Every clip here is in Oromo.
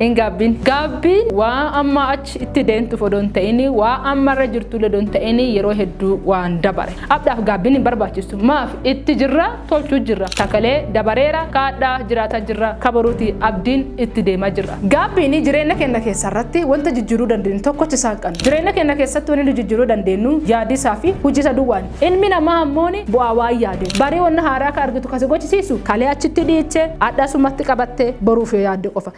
Hin gaabbiin. Gaabbiin waa amma achi itti deemtuuf odoo hin ta'in waa amma irra jirtuullee odoo hin ta'in yeroo hedduu waan dabare. Abdhaaf gaabbiin hin barbaachistu. Maaf itti jirra tolchuu jirra. Takalee dabareera ka adhaa jiraataa jirra ka boruuti abdiin itti deemaa jirra. Gaabbiin jireenya keenna keessa irratti wanta jijjiiruu dandeenyu tokkocha isaan qabna. Jireenya keenna keessatti wanni nu jijjiiruu dandeenyu yaadiisaa fi hujiisa duwwaan. Ilmi namaa ammooni bu'aa waan yaade. Barii wonna haaraa akka argitu ka si gochisiisu, kalee achitti dhiiche, adha asumatti qabatte, boruuf yoo yaadde qofa.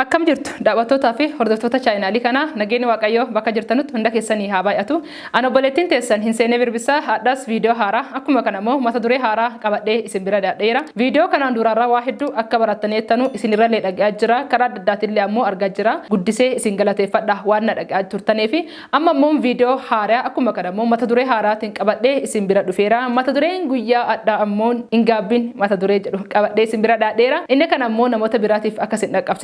Akkam jirtu daawwattootaa fi hordoftoota chaayinaalii kanaa nageenyi Waaqayyoo bakka jirtanutti hunda keessanii haa baay'atu. An obboleettiin teessan Hinseenee Birbissaa hardhas video haaraa akkuma kana immoo mata duree haaraa qabadhee isin bira dhiyaadheera. Video kanaan duuraarraa waa hedduu akka barattaneertanu isinirrallee dhaga'aa jira karaa adda addaatiinillee ammoo argaa jira. Guddisee isin galateeffadha waan na dhaga'aa turtaneefi. Amma immoo video haaraa akkuma kana immoo mata duree haaraatiin qabadhee isin bira dhufeera. Mata dureen guyyaa hardhaa ammoo Hin Gaabbiin mata duree jedhu qabadhee isin bira dhiyaadheera. Inni kana immoo namoota biraatiif akka isin dhaqqabsiisu.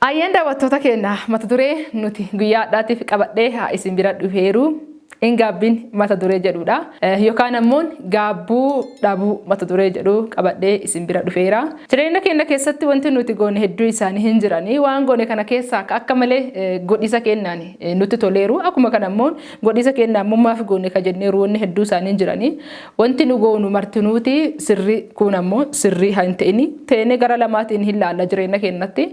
Ayyeen daawwattoota keenya mata duree nuti guyyaa hadhaatiif qabadhee haa isin bira dhufeeru in gaabbiin mata duree jedhuudha. Yookaan ammoon gaabbuu dhabuu mata duree jedhu qabadhee isin bira dhufeera. Jireenya keenya keessatti wanti nuti goone hedduu isaanii hin jiranii waan goone kana keessaa ka akka malee godhiisa keenyaan nutti toleeru akkuma kana ammoon godhiisa keenyaan mummaaf goone ka jenneeru wanni hedduu isaanii hin jiranii Wanti nu goonu martinuuti sirrii kun ammoo sirrii hin ta'ini teenee gara lamaatiin hin laalla jireenya keenyatti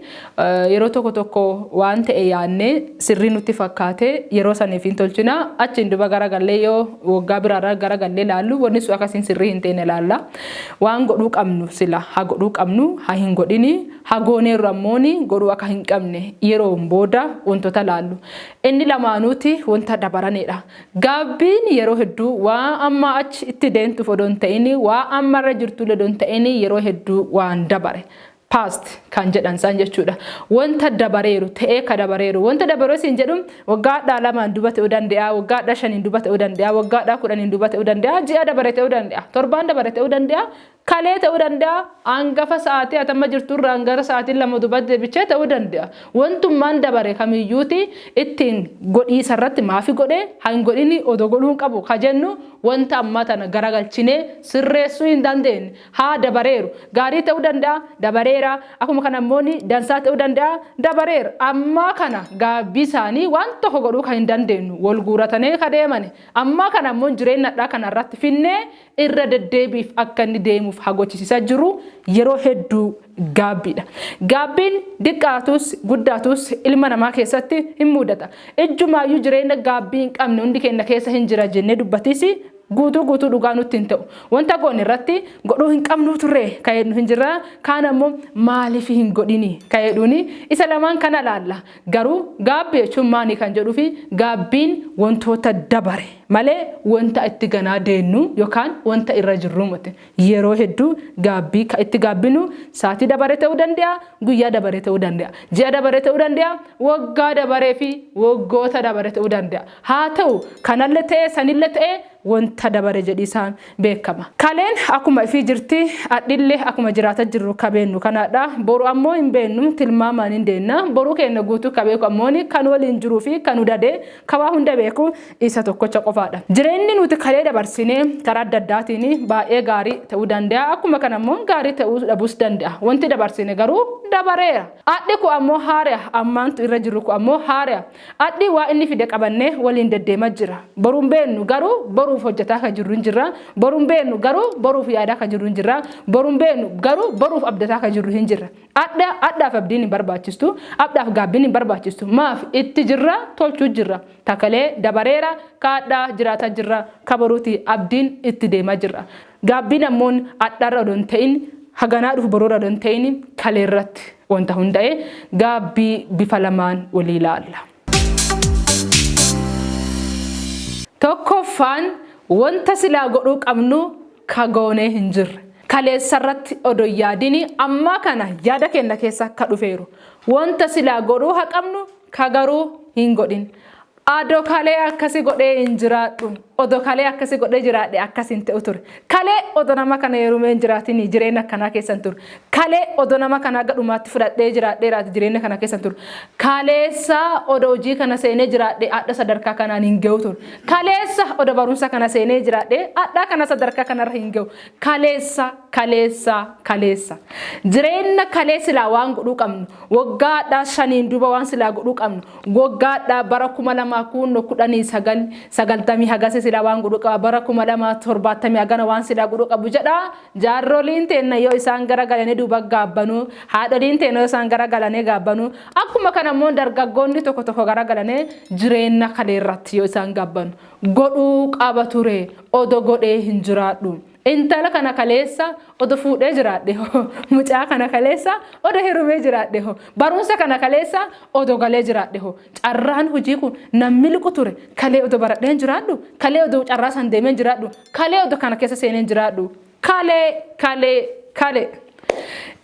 yeroo tokko tokko waan ta'e yaannee sirrii nutti fakkaate yeroo saniif hin tolchina achiin duba gara gallee yoo waggaa biraarra gara gallee laallu wanni sun akkasiin sirrii hin teene laalla waan godhuu qabnu sila ha godhuu qabnu ha hin godhini ha gooneerru ammooni godhuu akka hin qabne yeroon booda wantoota laallu inni lamaanuuti wanta dabaraneedha Gaabbiin yeroo hedduu waa amma achi itti deemtuuf odoo hin ta'in waa amma irra jirtullee odoo hin ta'in yeroo hedduu waan dabare past kan jedhan san jechuudha. Wanta dabareeru ta'ee ka dabareeru wanta dabaree siin jedhu waggaadhaa lamaan duba ta'uu danda'a waggaadhaa shaniin duba ta'uu danda'a waggaadhaa kudhaniin duba ta'uu danda'a ji'a dabare ta'uu danda'a torbaan dabare ta'uu danda'a Kalee ta'uu danda'a, hangafa sa'aatii ati amma jirtu irraan gara sa'aatii lama duubatti deebichee ta'uu danda'a. Wantummaan dabare kamiyyuuti ittiin godhiisa irratti maafi godhe, ha hin godhini, odoo godhuu hin qabu ka jennu wanta ammaa tana garagalchinee sirreessuu hin dandeenye. Ha dabareeru. Gaarii ta'uu danda'a, dabareera. Akkuma kana immoo ni dansaa ta'uu danda'a, dabareera. Ammaa kana gaabbii isaanii waan tokko godhuu ka hin dandeenyu, wal guuratanee ka deemani. Ammaa kana immoo jireenna hadhaa kana irratti finnee irra deddeebiif akka inni deemuuf hagochisisaa jiru yeroo hedduu gaabbiidha. Gaabbiin diqqaatus guddaatus ilma namaa keessatti hin muudata. Ijjumaayyuu jireenya gaabbii hin qabne hundi keenna keessa hin jira jennee dubbatiisi guutuu guutuu dhugaa nutti hin ta'u. Wanta goone irratti godhuu hin qabnuu turree ka jedhu hin jirraa kaan ammoo maaliif hin godhini ka jedhuuni isa lamaan kana laalla. Garuu gaabbi jechuun maani kan jedhufi gaabbiin wantoota dabare malee wanta itti ganaa deennuu yokaan wanta irra jirruu moti. Yeroo hedduu gaabbii ka itti gaabbinu saatii dabare ta'uu dande'a, guyyaa dabare ta'uu dande'a, ji'a dabare ta'uu dande'a, woggaa dabareefi woggoota dabare ta'uu dande'a. Haa ta'u kanalle ta'ee sanille ta'ee wonta dabare jedhiisaan beekkama. Kaleen akkuma ifii jirti, adhille akkuma jiraata jirru ka beennu kanaadha. Boru ammoo hin beennu, tilmaamaan hin deenna. Boruu keenna guutuu ka beeku ammoon ka nu woliin jiruu fi ka nu dade, ka waan hunda beeku isa tokkocha qofaadha. Jireenni nuuti kalee dabarsine karaa adda addaatiin baay'ee gaarii ta'uu danda'a, akkuma kana ammoo gaarii ta'uu dhabuus danda'a. Wonti dabarsine garuu dabareera. Adhi kun ammoo haareya, ammaantu irra jirru kun ammoo haareya. Adhi waa inni fide qabanne waliin deddeema jira. Boru hin beennu garuu boruuf hojjataa ka jirru hin jirra. Boru hin beennu garuu boruuf yaadaa ka jirru hin jirra. Boru hin beennu garuu boruuf abdataa ka jirru hin jirra. Adha adhaaf abdiin hin barbaachistu. Abdhaaf gaabbiin hin barbaachistu. Maaf itti jirra tolchuu jirra. Ka kalee dabareera ka adha jiraata jirra ka boruuti abdiin itti deema jirra. Gaabbiin ammoon adharra odoo hin ta'in haganaa dhufu boruurra odoo hin ta'in kaleerratti. wanta hunda'e gaabbii bifa lamaan walii laalla. Tokkoffaan wanta silaa godhuu qabnu ka goonee hin jirre. Kaleessarratti odoo hin yaadini ammaa kana yaada keenna keessa ka dhufeeru. Wanta silaa godhuu ha qabnu ka garuu hin godhin. Ado kalee akkasi godhee hin jiraadhu odo kalee akkasi godhee jiraadhe akkas hin ta'u ture kalee odo nama kana yerumee hin jiraatin jireenya akkanaa keessan ture kalee odo nama kana aga dhumaatti fudhadhee jiraadhee raati jireenya kana keessan ture kaleessa odo hojii kana seenee jiraadhe adha sadarkaa kanaan hin ga'u ture kaleessa odo barumsa kana seenee jiraadhe adhaa kana sadarkaa kanarra hin ga'u kaleessa kaleessa kaleessa jireenya kalee silaa waan godhuu qabnu waggaa adhaa shaniin duuba waan silaa godhuu qabnu Woggaadha bara 2000 kuunno kudhanii sagal sagaltamii hagasi sila waan gudhu qaba bara 2070 hagana waan sila gudhu qabu jedha jaarroliin teenna yoo isaan gara galani duuba gaabbanu haadholiin teenna yoo isaan gara galane gaabbanu akkuma kana immoo dargaggoonni tokko tokko gara galane jireenna kaleerratti yoo isaan gaabbanu godhuu qaba ture odo godhee hin jiraadhu Intala kana kaleessa odo fuudhee jiraadhe hoo mucaa kana kaleessa odo herumee jiraadhe hoo barumsa kana kaleessa odo galee jiraadhe hoo carraan hojii kun nan miliqu ture kalee odo baradheen jiraadhu kalee odo carraa san deemeen jiraadhu kalee odo kana keessa seeneen jiraadhu kalee kalee kalee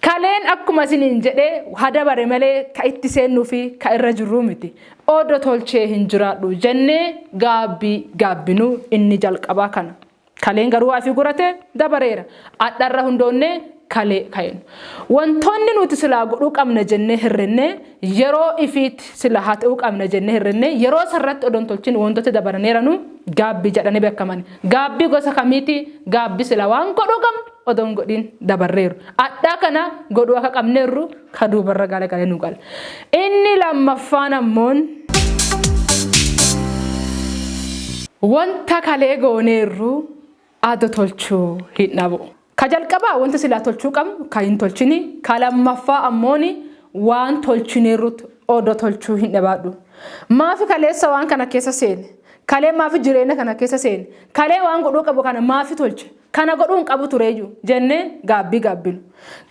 Kaleen akkuma isiniin jedhee hadabare malee ka itti seennuu fi ka irra jirruu miti. Odo tolchee hin jiraadhu jennee gaabbii gaabbinuu inni jalqabaa kana. Kaleen garuu asii gurate dabareera. Adharra hundoonnee kalee kaenu. Wantoonni nuti silaa godhuu qabna jennee hirrinne yeroo ifiitti sila haa ta'uu qabna jennee hirrinne yeroo sarratti odon tolchin wantoota dabaraneeranu gaabbii jedhanii beekamani. Gaabbii gosa kamiiti? Gaabbii sila waan godhuu qabnu odon godhin dabarreeru. Adhaa kana godhuu akka qabneerru ka duubarra galagale nu gala. Inni lammaffaan ammoon wanta kalee gooneerru ado tolchuu hin dhabu. Ka jalqabaa wanta silaa tolchuu qabnu ka hin tolchini, ka lammaffaa ammoon waan tolchineerrutu odo tolchuu hin dhabaadhu. Maafi kaleessa waan kana keessa seene? Kalee maafi jireenya kana keessa seene? Kalee waan godhuu qabu kana maafi tolche? Kana godhuu hin qabu tureeyyu jennee gaabbii gaabbinu.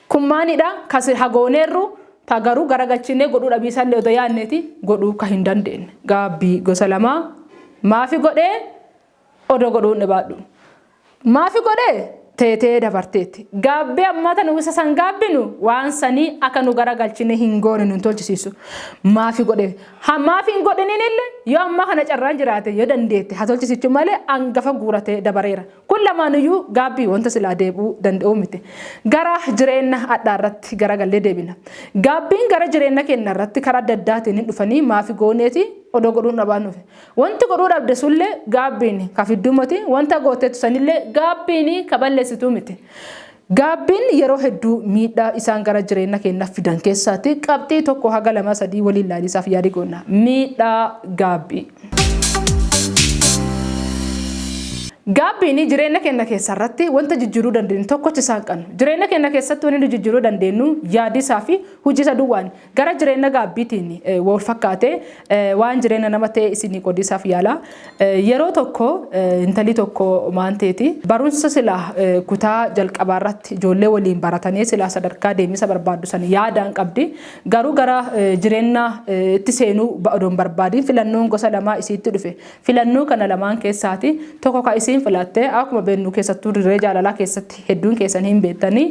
Kun maanidha ka silha gooneerru ta garuu garagalchiinee godhuu dhabiisallee odoo yaanneeti godhuu ka hin dandeenne. Gaabbii gosa lamaa maafi godhee odoo godhuu hin dhibaadhu. Maafi godhee teetee dabarteetti. Gaabbee ammaa tan uwwisa san gaabbinu waan sanii aka nu garagalchinee hin goone nun tolchisiisu. Maafi godhee. Ha maafi hin godhiniinille yoo ammaa kana carraan jiraate yoo dandeette ha tolchisiichu malee angafa guuratee dabareera. Kun lamaanuyyuu gaabbii wanta silaa deebi'uu danda'uu miti. Gara jireenna adhaa irratti garagallee deebina. Gaabbiin gara jireenna keenna irratti karaa adda addaatiin hin dhufanii maafi gooneeti odoo godhuu hin dhabaanuufi. Wanti godhuu dhabde sunillee gaabbiini ka fidduu moti, wanta gooteettu sanillee gaabbiini ka balleessituu miti. Gaabbiin yeroo hedduu miidhaa isaan gara jireenna keennaf fidan keessaati qabxii tokko haga lama sadii waliin laaliisaaf yaali goonna. Miidhaa gaabbii. Gaabbiini jireenna keenna keessa irratti wanta jijjiruu dandeennu tokkocha isaan qannu. Jireenna keenna keessatti wani nu jijjiruu dandeennu yaadiisaa fi hujiisa duwwaani. Gara jireenna gaabbiitiin wa wal fakkaatee waan jireenna nama ta'ee isinii qodiisaaf yaala. Yeroo tokko intalii tokko maan teeti. Barunsa silaa kutaa jalqabaa irratti ijoollee waliin baratanee silaa sadarkaa deemisa barbaaddu san yaadaan qabdi. Garuu gara jireenna itti seenuu odoo hin barbaadiin filannoon gosa lamaa isiitti dhufe. Filannoo kana lamaan keessaati tokko ka isiin filatte akkuma beennuu keessattuu dirree jaalalaa keessatti hedduun keessan hin beettanii.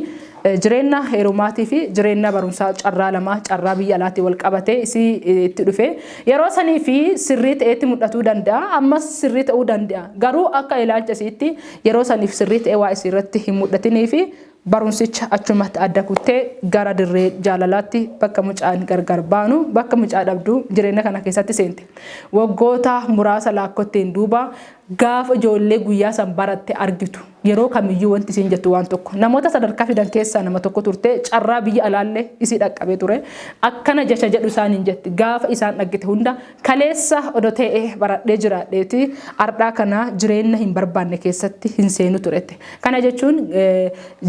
Jireenna heerumaati fi jireenna barumsaa carraa lama carraa biyya alaatti wal qabatee isii itti dhufe. Yeroo sanii fi sirrii ta'eetti mul'atuu danda'a. Ammas sirrii ta'uu danda'a. Garuu akka ilaalcha isiitti yeroo saniif sirrii ta'ee waa isii irratti hin mul'atinii fi barumsicha achumatti adda kuttee gara dirree jaalalaatti bakka mucaan gargar baanu bakka mucaa dhabdu jireenya kana keessatti seente. Waggoota muraasa laakkotteen duuba gaafa ijoollee guyyaa san baratte argitu. Yeroo kamiyyuu wanti isiin jettu waan tokko. Namoota sadarkaa fidan keessaa nama tokko turte, carraa biyya alaallee isii dhaqqabee ture. Akkana jecha jedhu isaaniin jetti, gaafa isaan dhaggite hunda, kaleessa odo tee'e baradhee jiraadheeti, ardhaa kana jireenna hin barbaanne keessatti hin seenu turette. Kana jechuun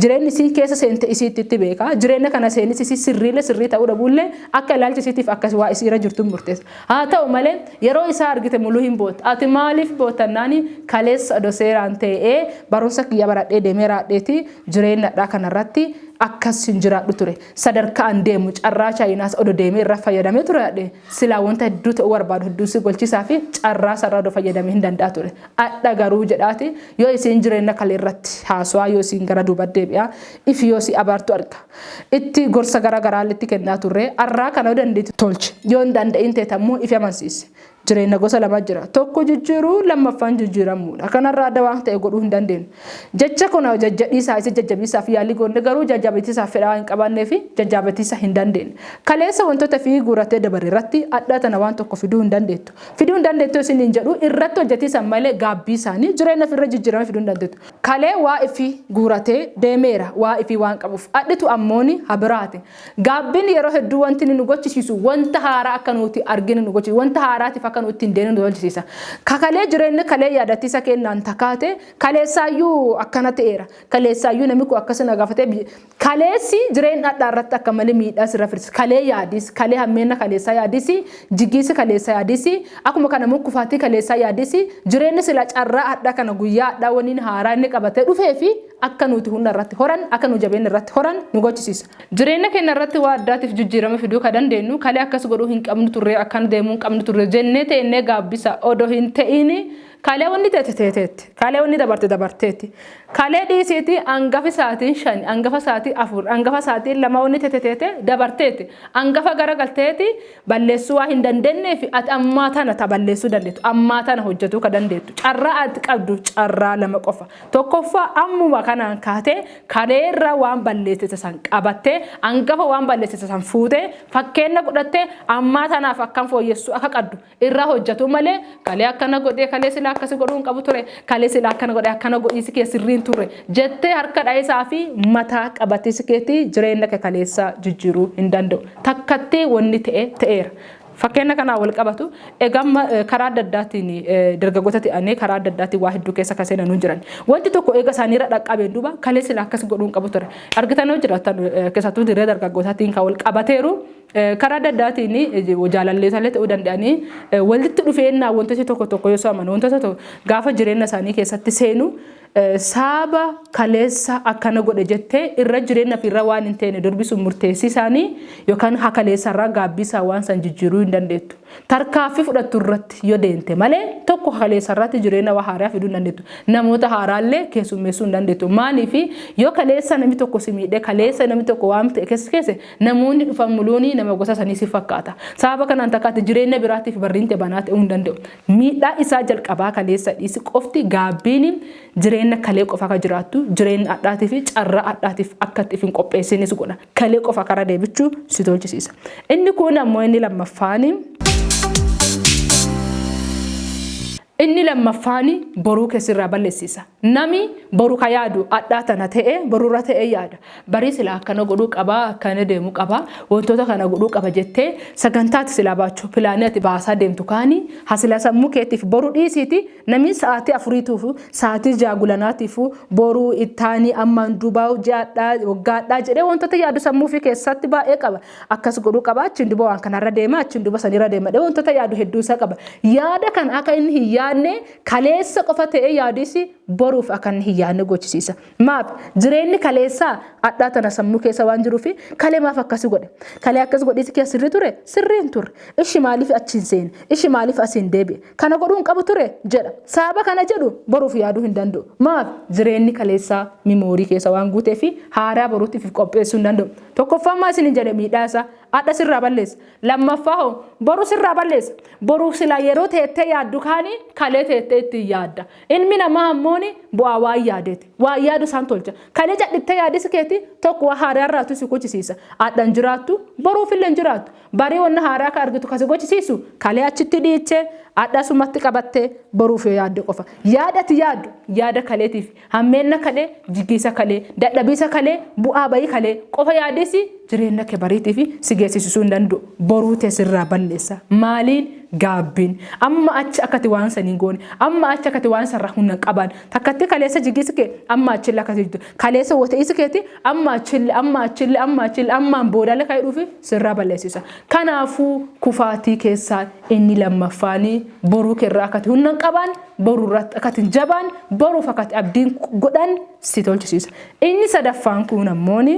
jireenni isiin keessa seente isiitti itti beeka. Jireenna kana seenis isii sirriillee sirrii ta'uu dhabuullee akka ilaalcha isiitiif akkas waa isiira jirtuun murteessa. Haa ta'u malee, yeroo isaa argite mulu hin bootta. Ati maaliif bootta jennaani, kaleessa odoo seeraan tee'ee barumsa kiyya baradhee deemee raadheeti jireenna adhaa kana irratti akkas hin jiraadhu ture. Sadarkaa an deemu carraa Chaayinaas odoo deemee irra fayyadamee ture adhe, silaa wanta hedduu ta'uu barbaadu hedduu si golchisaa fi carraa san irra odoo fayyadamee hin danda'a ture. Adha garuu jedhaati yoo isiin jireenna kalee irratti haasawaa yoo isiin gara duuba deebi'aa ifi yoo si abaartu arga. Itti gorsa gara garaa itti kennaa turre. Arraa kana yoo dandeetti tolchi. Yoo hin danda'iin teete ammoo ifi amansiisi. Jireenna gosa lama jira. Tokko jijjiiruu, lammaffaan jijjiiramuudha. Kanarra adda waan ta'e godhuu hin dandeennu. Jecha kana jajjadhiisaa isa jajjabeessaaf yaalii goonne garuu jajjaabetiisaaf fedha waan hin qabaanneefi jajjaabetiisa hin dandeenye. Kaleessa wantoota ifi guurattee dabarre irratti adhaa tana waan tokko fiduu hin dandeettu. Fiduu hin dandeettu yoo isiniin jedhu irratti hojjatiisan malee gaabbiisaani jireenna ifi irra jijjiirame fiduu hin dandeettu. Kalee waa ifii guuratee deemeera waa ifii waan qabuuf. Adhitu ammooni ha biraati. Gaabbiin yeroo hedduu wanti inni nu gochisiisu wanta haaraa akka nuuti arginu nu gochisiisa. Wanta haaraatiif akka nu ittiin deemnu nu tolchisiisa. Ka kalee jireenna kalee yaadachiisa keennaan ta kaate kaleessaayyuu akkana ta'eera. Kaleessaayyuu nami kun akkasi na gaafatee Kaleessi jireen dhadhaa irratti akka mali miidhaa sirra firsi. Kalee yaadis, kalee hammeenna kaleessaa yaadisi, jigiisi kaleessaa yaadisi, akkuma kana immoo kufaatii kaleessaa yaadisi, jireenni sila carraa hadhaa kana guyyaa hadhaa waniin haaraa inni qabatee dhufee fi akka nuuti hunna irratti horan, akka nuu jabeenna irratti horan nu gochisiisa. Jireenna keenna irratti waa addaatiif jijjiirama fiduu ka dandeennu kalee akkas godhuu hin qabnu turree akkan deemuu hin qabnu turre jennee teennee gaabbisa odoo hin te'iini, Kalee wanni teete teeteetti. Kalee wanni dabarte dabarteetti. Kalee dhiisiiti angafi saatiin shani, angafa saatii afur, angafa saatiin lama wanni teete teete dabarteetti. Angafa gara galteeti balleessuu waa hin dandeenneef ati ammaa tana ta balleessuu dandeettu. Ammaa tana hojjatuu ka dandeettu. Carraa ati qabdu carraa lama qofa. Tokkoffaa ammuma kanaan kaatee kalee irra waan balleessite san qabattee angafa waan balleessite san fuutee fakkeenna godhattee ammaa tanaaf akkam fooyyessuu akka qaddu irra hojjatu malee kalee akkana godhee kalee sila akkasi godhuu hin qabu ture kalee sila akkana godhee akkana godhiisi kee sirrii hin turre jettee harka dha'isaa fi mataa qabatiisi keetii jireenya kee kaleessaa jijjiiruu hin danda'u takkatti wanni ta'e ta'eera. Fakkeenya kanaa wal qabatu egamma karaa adda addaatiin dargaggoota ta'anii karaa adda addaatiin waa hedduu keessa kan seenanuu jiran. Wanti tokko eega isaaniirra dhaqqabeen duuba kalee sila akkas godhuu hin qabu ture. Argitanoo jiraatan keessattuu dirree dargaggootaatiin kan wal qabateeru. Karaa adda addaatiin jaalallee isaallee ta'uu danda'anii walitti dhufeennaa wantoota tokko tokko yoo saaman wantoota tokko gaafa jireenya isaanii keessatti seenu saaba kaleessa akkana godhe jettee irra jireenya fi irra waan hin teene durbisuun murteessii isaanii yookaan hakaleessa irraa gaabbii isaa waan san jijjiiruu hin dandeettu. Tarkaaffii fudhattu irratti yoo deemte malee tokko hakaleessa irratti jireenya waa haaraa fiduu hin dandeettu. Namoota haaraallee keessummeessuu hin dandeettu. Maaliif yoo kaleessa namni tokko si miidhee kaleessa namni tokko waan ta'e keessa keesse Namoonni dhufan muluuni nama gosa sanii si fakkaata. Sababa kanaan takkaatti jireenya biraatiif barriinte banaa ta'uu hin danda'u. Miidhaa isaa jalqabaa kaleessa dhiisi qofti gaabbiin jireenya kalee qofa akka jiraattu, jireenya adhaatii fi carraa adhaatiif akka itti if hin qopheessiin si godha. Kalee qofa kara deebichu si tolchisiisa. Inni kuun ammoo inni lammaffaan. Inni lammaffaani boruu ke sirraa ballessisa. Nami boru ka yaadu adhaa tana ta'e borurra ta'e yaada. Barii silaa akkana godhuu qaba, akkana deemu qaba, wantoota kana godhuu qaba jettee sagantaa ati silaa baachu, pilaanii ati baasaa deemtu kaani ha silaa sammuu keetiif boru dhiisiiti namii sa'aatii afuriituufu, sa'aatii ja'a gulanaatiifu boruu, ittaanii, ammaan duubaa, ji'adhaa, waggaadhaa jedhee wantoota yaadu sammuu ufii keessaatti baay'ee qaba. akkas godhuu qaba achiin duba waan kanarra deema achiin duba sanirra deema dhee wantoota yaadu hedduu isaa qaba yaada kan akka inni hin yaadne kaleessa qofa ta'ee yaadisi boruuf akka inni hin yaadne gochisiisa maaf jireenyi kaleessaa adhaa tana sammuu keessa waan jiruu fi kalee maaf akkasi godhe kalee akkas godhiisi keessa sirrii ture sirrii hin turre ishi maaliif achiin seene ishi maaliif asiin deebi'e kana godhuu hin qabu ture jedha saaba kana jedhu boruuf yaaduu hin danda'u maaf jireenyi kaleessaa mimoorii keessa waan guutee fi haaraa boruutiif qopheessuu hin danda'u Tokkoffaa maa isinin jedhe miidhaa isaa adha sirraa balleessa. Lammaffaa hoo boru sirraa balleessa. Boruuf silaa yeroo teettee yaaddu kaanii kalee teettee ittiin yaadda. Ilmi namaa ammooni bu'aa waan yaadeeti. Waan yaadu isaan tolcha. Kalee cadhittee yaadisi keeti tokko waan haaraa irraatu si gochisiisa. Adha hin jiraattu, boruuf illee hin jiraattu. Barii wanna haaraa ka argitu ka si gochisiisu kalee achitti dhiichee adha asumatti qabattee boruuf yoo yaadde qofa. Yaada ati yaaddu yaada kaleetiif Hammeenna kalee, jiggiisa kalee, dadhabiisa kalee, bu'aa bayii kalee qofa yaadisi jireenna kee bariitifi si geessisisuu hin dandu'u. Boruu tee sirraa balleessa. Maaliin? Gaabbiin. Amma achi akka ati waan san hin goone, amma achi akka ati waan san irraa hunna hin qabaanne. Takkatti kaleessa jigiisi kee, amma achille akka ati jigdu, kaleessa wote'iisi keeti, amma achille, amma achille, amma achille, ammaan boodalle ka hidhuufi sirraa balleessisa. Kanaafuu kufaatii keessaa inni lammaffaani boruu kee irraa akka ati hunna hin qabaanne, boru irratti akka ittiin jabaan boruuf akka itti abdiin godhan si tolchisiisa. Inni sadaffaan kun ammooni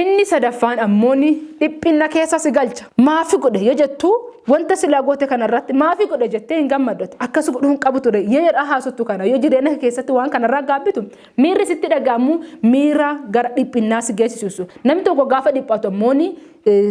inni sadaffaan ammooni dhiphinna keessa si galcha. Maafi godhe yoo jettu wanta silaa goote kana irratti maafi godhe jettee hin gammaddotti akkas godhuu hin qabu ture yoo jedhaa haasottu kana yoo jireenya keessatti waan kanarraa gaabbitu Miirri sitti dhaga'amu miira gara dhiphinnaa si geessisu. Namni tokko gaafa dhiphatu ammoo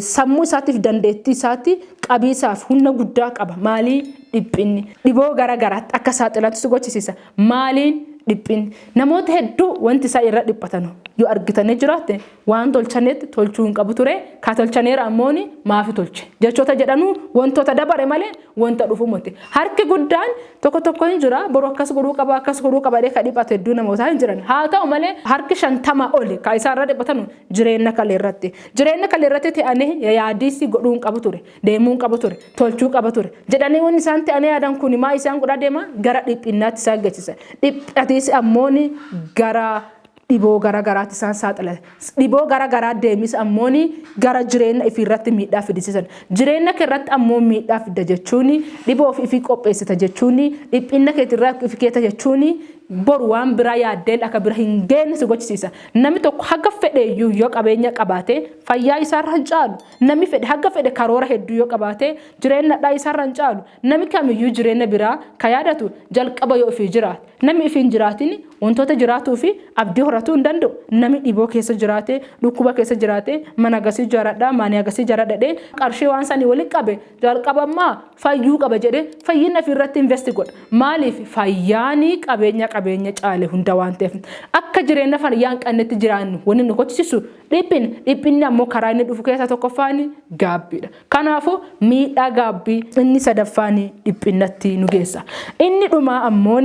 sammuu isaatiif dandeettii isaatti qabiisaaf humna guddaa qaba. Maalii dhiphinni? Dhiboo gara garaatti akka saaxilamtu si gochisiisa. Maaliin dhiphinni? Namoota hedduu wanti isaan irra dhiphatanu yoo argitanii jiraatte Waan tolchanetti tolchuu hin qabu ture, ka tolchaneera ammooni maafi tolche? Jechoota jedhanu wontoota dabare malee wonta dhufu moti. Harki guddaan tokko tokko hin jira, boru akkas godhuu qaba, akkas godhuu qaba jedhee ka dhiphatu hedduu namootaa hin jiran. Haa ta'u malee harki shantama oli ka isaan irra dhiphatanu jireenna kalee irratti. Jireenna kalee irratti te'anee yayaadiisii godhuu hin qabu ture, deemuu hin qabu ture, tolchuu qaba ture. Jedhanee wonni isaan te'anee yaadan kuni maa isaan godhaa deema? Gara dhiphinnaatti isaan geessisa. Dhiphatiisi ammooni gara dhiboo gara garaatti isaan saaxila. Dhiboo gara garaa deemis ammoon gara jireenya ifii irratti miidhaa fidisisan. Jireenya kee irratti ammoo miidhaa fidda jechuun dhiboof ifii qopheessita jechuun dhiphinna keetirra ifi keeta jechuun boru waan biraa yaaddeen akka bira hin geenne si gochisiisa. Nami tokko haga fedheeyyuu yoo qabeenya qabaate fayyaa isaarra hin caalu. Nami fedhe haga fedhe karoora hedduu yoo qabaate jireenya hadhaa isaarra hin caalu. Nami kamiyyuu jireenna biraa ka yaadatu jalqaba yoo ifii jiraate. Nami ifii hin jiraatin wontoota jiraatuu fi abdii horatuu hin dande'u. Nami dhiboo keessa jiraate, dhukkuba keessa jiraate, mana hagasii ijaaradha, maanii hagasii ijaaradha jedhee qarshii waan sanii woli qabe jalqabamma fayyuu qaba jedhee fayyinna ifii irratti investi godha. Maaliif? Fayyaan qabeenya qabeenya caale hunda waan ta'eef. Akka jireenna fayyaa hin qannetti jiraannu wonni nu kochisisu dhiphinna. Dhiphinni ammoo karaa inni dhufu keessaa tokkoffaan gaabbiidha. Kanaafuu, miidhaa gaabbii inni sadaffaan dhiphinnatti nu geessa. Inni dhumaa ammoo.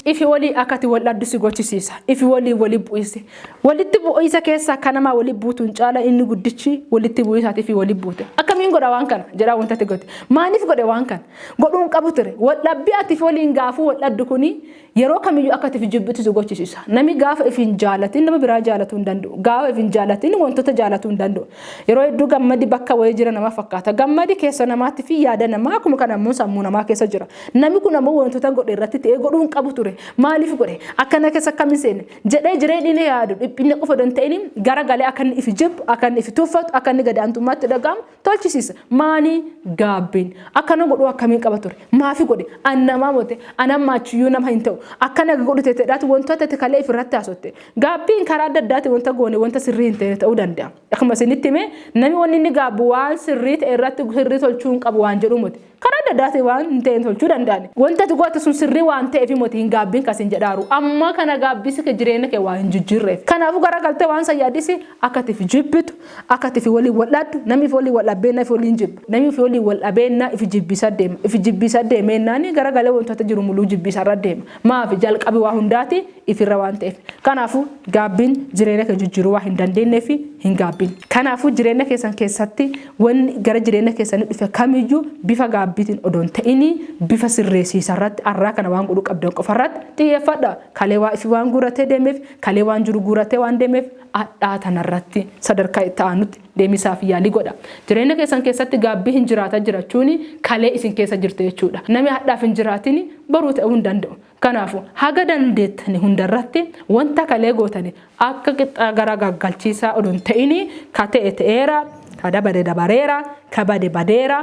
Ifi wolii akka ati wol dhaddu si gochisiisa. Ifi woliin woli bu'iisi. Wolitti bu'iisa keessaa ka namaa woli buutuun caala inni guddichi wolitti bu'iisaati ifi woli buute. Akkamiin godha waan kana? jedhaa wanta ati gote. Maaniif godhe waan kana? Godhuun qabu ture. Wol dhabbii ati ifi woliin gaafuu wol dhaddu kuni Yeroo kamiyyuu akka ati if jibbitu si gochisiisa. Nami gaafa if hin jaalatin nama biraa jaalatuu hin danda'u. Gaafa if hin jaalatin wantoota jaalatuu hin danda'u. Yeroo hedduu gammadi bakka wayii jira nama fakkaata. Gammadi keessa namaatti fi yaada namaa akkuma kana ammoo sammuu namaa keessa jira. Nami kun ammoo wantoota godhe irratti ta'ee godhuu hin qabu ture. Maaliif godhe? Akkana keessa akkam hin seenne? jedhee jireenyi inni yaadu dhiphinna qofa odoo hin ta'in gara galee akka inni if jibbu, akka inni if tuffatu, akka inni gad aantummaatti dhaga'amu tolchisiisa. Maanii gaabbiin akkana godhuu akkamiin qaba ture? Maafi godhe? An namaa mote an amma achiyyuu nama hin ta'u. Akkana godhu teteedhaati wantoota ati kalee ifirratti haasotte. Gaabbiin karaa adda addaati wanta goone wanta sirrii hin ta'e ta'uu danda'a. Akkuma isinitti hime namni wanni inni gaabbu waan sirrii ta'e irratti sirrii tolchuu hin qabu waan jedhu miti. Karaa adda addaatiin waan hin ta'een tolchuu danda'an. Wanta ati goote sun sirrii waan ta'eef moti hin gaabbiin kasin jedhaaru. Amma kana gaabbisi kee jireenya kee waan hin jijjiirreef. Kanaafuu garagaltee waan san yaadisi akka ati ifi jibbitu, akka ati ifi waliin wal dhabdu, namni ifi waliin wal dhabbeenna ifi waliin jibba. Namni ifi waliin wal dhabeenna ifi jibbiisa deema. Ifi jibbiisa deemeennaani garagalee wantoota jiru muluu jibbiisa irra deema. Maafi jalqabi waa hundaati ifirra waan ta'eef. Kanaafuu gaabbiin jireenya kee jijjiiruu waan hin dandeenneef hin gaabbiin. Kanaafuu jireenya keessan keessatti Wanni gara jireenya keessanii dhufe kamiyyuu bifa gaabbiitiin odoo hin ta'inii bifa sirreessiisa irratti arraa kana waan godhuu qabdan qofa irratti xiyyeeffadha. Kalee waa ifi waan guuratee deemeef, kalee waan jiru guuratee waan deemeef adhaa tana irratti sadarkaa itti aanutti deemisaaf yaalii godha. Jireenya keessan keessatti gaabbii hin jiraata jirachuuni kalee isin keessa jirte jechuudha. Nami hadhaaf hin jiraatini boruu ta'uu hin danda'u. Kanaafu, haga dandeettani hunda irratti wanta kalee gootani akka qixxaa gara gaggalchiisaa odoo hin ta'ini, ka ta'e ta'eera, ka dabare dabareera, ka bade badeera,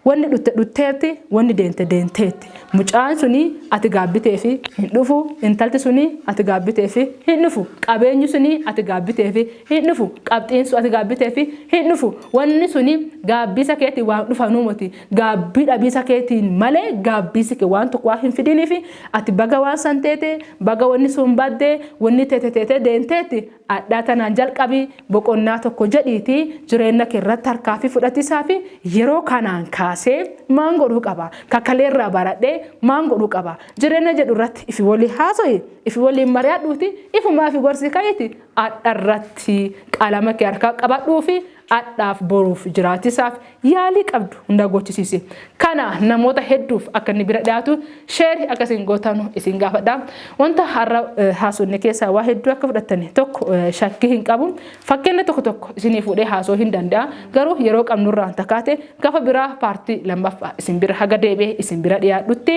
wanni dhutte dhutteerti, wanni deente deenteetti. Mucaan suni ati gaabbiteefi hin dhufu, intalti suni ati gaabbiteefi hin dhufu, qabeenyi suni ati gaabbiteefi hin dhufu, qabxiin sun ati gaabbiteefi hin dhufu, wanni suni gaabbiisa keetiin waan dhufanuu moti. gaabbii dhabiisa keetiin malee gaabbiisi kee waan tokko waan hin fidiniif ati baga waan san teete baga wanni sun badde wanni teete teete deenteetti adhaa tanaan jalqabi boqonnaa tokko jedhiiti jireenna kee irratti harkaafi fudhatiisaa fi yeroo kanaan kaasee maan godhuu qaba kakalee irraa baradhee maan godhuu qaba jireenna jedhu irratti ifi walii haasoyi ifi waliin mari'adhuuti ifumaa fi gorsii ka'iiti adha irratti qalama kee harkaa qabadhuufi Adhaaf boruuf jiraachisaaf yaalii qabdu hundaa gochisiisi. Kana namoota hedduuf akka inni bira dhiyaatu sheeri akka isin gootanu isin gaafadha. Wanta har'a haasofne keessaa waa hedduu akka fudhattani tokko shakkii hin qabu. Fakkeenya tokko tokko isinii fuudhee haasoo hin danda'a. Garuu yeroo qabnurraan takaate gafa biraa paartii lammaffaa isin bira haga deebi'ee isin bira dhiyaadhutti